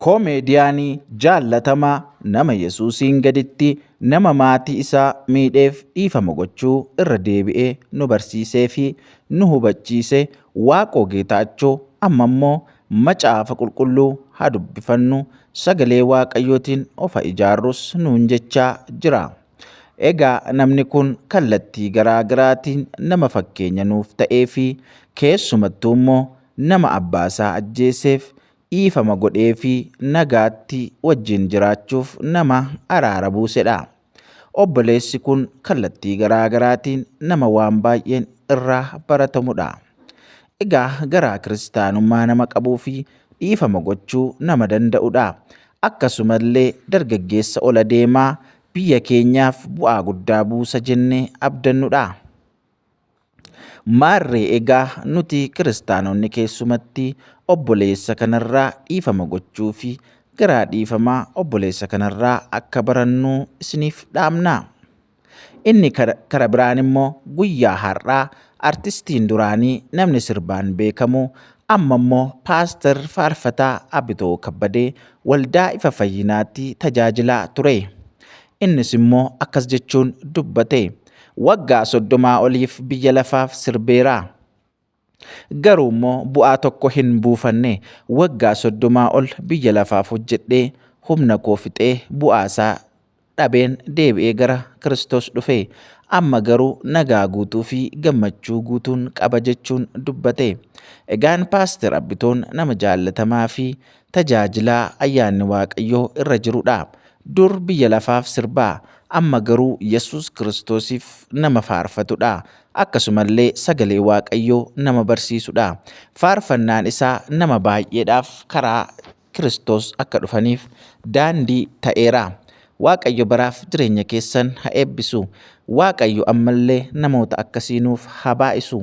Koomeediyaanii jaallatamaa nama Yesuusiin gaditti nama maatii isaa miidheef dhiifama gochuu irra deebi'ee nu barsiisee fi nu hubachiise Waaqoo Geetaachoo amma immoo macaafa qulqulluu haa dubbifannu sagalee Waaqayyootiin ofa ijaarrus nuun jechaa jira. Egaa namni kun kallattii garaa garaatiin nama fakkeenya nuuf ta'ee fi keessumattuu immoo nama abbaasaa ajjeeseef dhiifama godhee fi nagaatti wajjin jiraachuuf nama araara buusedha. Obboleessi kun kallattii garaa garaatiin nama waan baay'een irraa baratamudha. Egaa garaa kiristaanummaa nama qabuu fi dhiifama gochuu nama danda'udha. Akkasumallee dargaggeessa ol adeemaa biyya keenyaaf bu'aa guddaa buusa jennee abdannudha. Maarree egaa nuti kiristaanonni keessumatti obboleessa kanarraa dhiifama gochuu fi garaa dhiifamaa obboleessa kanarraa akka barannuu isiniif dhaamna. Inni kara biraan immoo guyyaa har'aa artistiin duraanii namni sirbaan beekamu amma immoo paastar faarfataa Abitoo Kabbadee waldaa ifa fayyinaatti tajaajilaa ture. Innis immoo akkas jechuun dubbate. Waggaa soddomaa oliif biyya lafaaf sirbeera. Garuu immoo bu'aa tokko hin buufanne. Waggaa soddomaa ol biyya lafaaf hojjedhee humna koo fixee bu'aa isaa dhabeen deebi'ee gara Kiristoos dhufe. Amma garuu nagaa guutuu fi gammachuu guutuun qaba jechuun dubbate. Egaan Paaster Abbitoon nama jaallatamaa fi Tajaajila ayyaanni Waaqayyoo irra jirudha. Dur biyya lafaaf sirbaa, amma garuu Yesuus Kiristoosiif nama faarfatudha. Akkasumallee sagalee Waaqayyoo nama barsiisudha. Faarfannaan isaa nama baay'eedhaaf karaa Kiristoos akka dhufaniif daandii ta'eera. Waaqayyo baraaf jireenya keessan ha eebbisu. Waaqayyo ammallee namoota akkasii nuuf haa baay'isu.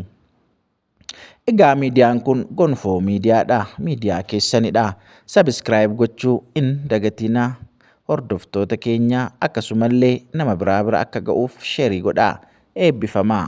Egaa miidiyaan kun gonfoo miidiyaadha. Miidiyaa keessanidha. Sabiskiraayib gochuu hin dagatinaa. Hordoftoota keenya akkasumallee nama biraa bira akka ga'uuf sheerii godhaa. Eebbifamaa.